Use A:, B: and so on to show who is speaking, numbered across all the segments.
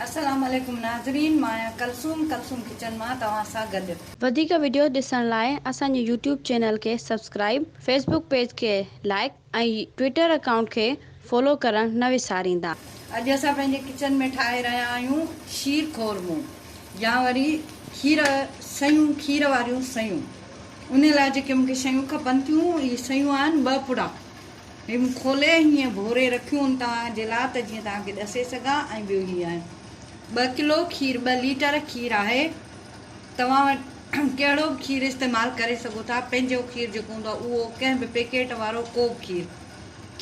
A: السلام عليڪم ناظرين مان آهيان ڪلثوم ڪلثوم ڪچن مان توهان سان گڏ. وڌيڪ وڊيو ڏسڻ
B: لاء اسان جي يوٽيوب چينل کي سبسڪرائيب، فيسبوڪ پيج کي لائيڪ ۽ ٽوئيٽر اڪائونٽ کي فالو ڪرڻ نه وساريندا. اڄ اسان پنهنجي
A: ڪچن ۾ ٺاهي رهيا آهيون شير خورمو يا وري کير سيون کير واريون سيون ان لاء جيڪي مونکي شيون کپن ٿيون اهي سيون آهن ٻه پڙا. هيم کولي هيئن ڀوري رکيون ان توهان جي لا ته جيئن توهان کي ڏسي سگهان ۽ ٻيو هي آهن ٻه ڪلو کير ٻه ليٽر کير آهي توهان وٽ ڪهڙو به کير استعمال ڪري سگهو ٿا پنهنجو کير جيڪو هوندو آهي اهو ڪنهن به پيڪيٽ وارو ڪو به کير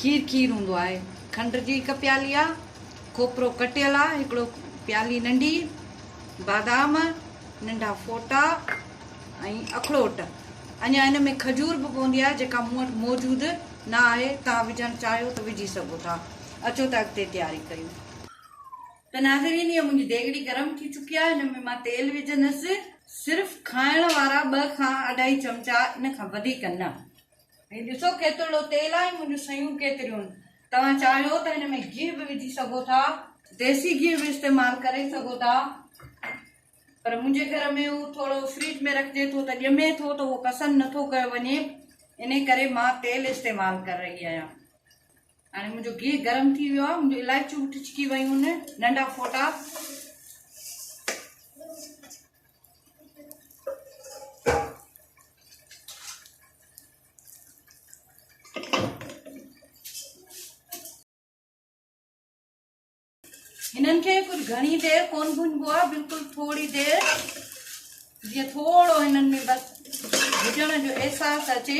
A: کير کير هوندو آهي کنڊ جي هڪ پيالي آهي کوپرو ڪٽيل آهي هڪڙو پيالي ننڍي بادام ننڍا ڦوٽا ۽ اکروٽ اڃا ان ۾ کجور به پوندي آهي جيڪا مون وٽ موجود نه آهي توهان وجهڻ چاهيو ته وجهي سگهو ٿا اچو ته اڳتي تياري ڪيون. ته ناظرين هيء منهنجي ديڳڙي گرم ٿي چڪي آهي هن ۾ مان تيل وجهندس صرف کائڻ وارا ٻه کان اڍائي چمچا ان کان وڌيڪ نه هي ڏسو ڪيترڙو تيل آهي منهنجون سيون ڪيتريون توهان چاهيو ته هن ۾ گيهه به وجهي سگهو ٿا ديسي گيهه به استعمال ڪري سگهو ٿا. پر منهنجي گهر ۾ هو ٿورو فريج ۾ رکجي ٿو ته ڄمي ٿو ته اهو پسند نه ٿو ڪيو وڃي انهي ڪري مان تيل استعمال ڪر رهي آهيان هاڻي منهنجو گيهه گرم ٿي ويو آهي منهنجو الائچيون به ٽچڪي ويون ننڍا ڦوٽا هنن کي ڪجهه گهڻي دير ڪون ڀونجبو آ بلڪل ٿوري دير جي ٿورو هنن ۾ بس ڀجڻ جو احساس اچي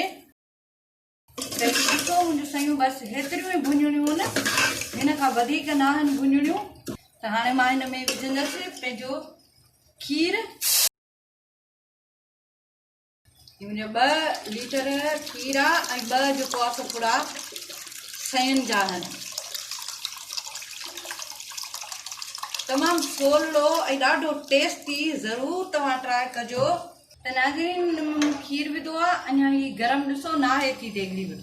A: ته ڏسو منهنجو سيون بس هيتريون ئي ڀونجڻيون نه هن کان وڌيڪ نه آهن ڀونجڻيون ته هاڻي مان هن ۾ وجهندس پنهنجو کير منهنجا ٻه ليٽر کير آ ۽ ٻه جو پاس پڙا سين جا آهن تمام سولو ۽ ڏاڍو ٽيسٽي ضرور توهان ٽرائي ڪجو ته ناظرين کير وڌو آ اڃا هي گرم ڏسو نه آهي ٿي ديگڙي به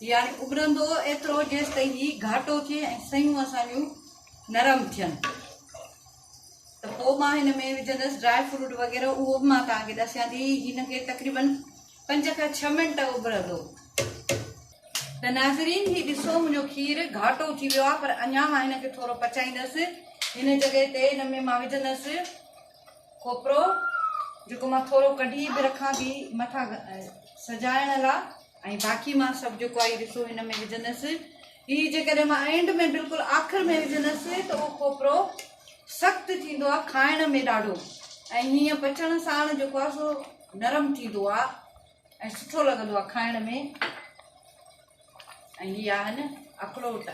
A: يعني ابرندو ايترو جيستائين هي گهاٽو ٿئي ۽ سيون اسان جون نرم ٿين ته پوء مان هن ۾ وجهندس ڊراء فروٽ وغيره اهو به مان توهان کي ڏسيان ٿي هن کي تقريبن پنج کان ڇهه منٽ اڀرندو ته ناظرين هي ڏسو منهنجو کير گهاٽو ٿي ويو آهي پر اڃا مان هن کي ٿورو پچائيندس هن جڳهه تي هن ۾ مان وجهندس کوپرو جيڪو مان ٿورو ڪڍي به رکان ٿي مٿان سجائڻ لاء ۽ باقي مان سڀ جيڪو آهي حصو هن ۾ وجهندس هي جيڪڏهن مان اينڊ ۾ بلڪل آخر ۾ وجهندس ته اهو کوپرو سخت ٿيندو آهي کائڻ ۾ ڏاڍو ۽ هيئن پچڻ ساڻ جيڪو آهي سو نرم ٿيندو آهي ۽ سٺو لڳندو آهي کائڻ ۾ ۽ هي آهن اکروٽ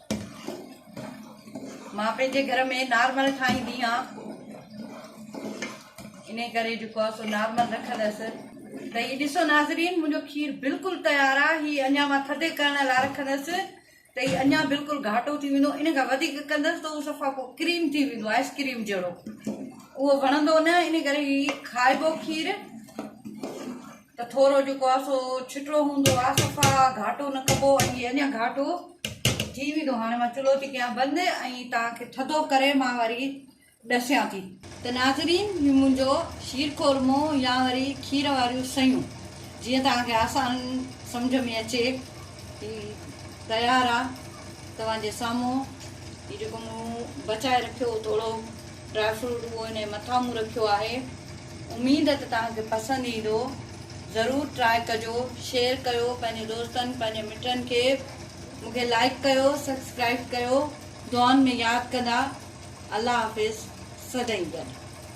A: مان پنهنجي گهر ۾ نارمل ٺاهيندي آهيان انهي ڪري جيڪو آهي سو نارمل رکندس ته هي ڏسو ناظرين منهنجو کير بلڪل تيار آهي هي اڃا مان ٿڌي ڪرڻ لاء رکندس ته هي اڃا بلڪل گهاٽو ٿي ويندو ان کان وڌيڪ ڪندس ته اهو صفا پوء ڪريم ٿي ويندو آئس ڪريم جهڙو اهو وڻندو نه ان ڪري هي کائبو کير ته ٿورو جيڪو آهي سو ڇٽڙو هوندو آهي صفا گهاٽو نه ڪبو ۽ اڃا گهاٽو ٿي ويندو هاڻي مان چلهو ٿي ڪيان بند ۽ توهان کي ٿڌو ڪري مان وري ڏسيان ٿي ته ناظرين هي منهنجو شير خورمو يا وري کير واريون سيون جيئن توهان کي آسان سمجھ ۾ اچي هي تيار آهي توهان جي سامهون هي جيڪو مون بچائي رکيو هو توڙو ڊرائي فروٽ اهو هن جي مٿان مون رکيو آهي اميد ته توهان کي پسند ايندو ضرور ٽرائي ڪجو شيئر ڪيو پنهنجي دوستن پنهنجي مٽن کي مون کي لائيڪ ڪيو سبسڪرائيب ڪيو دعائن ۾ ياد ڪندا الله حافظ سدائين گڏ.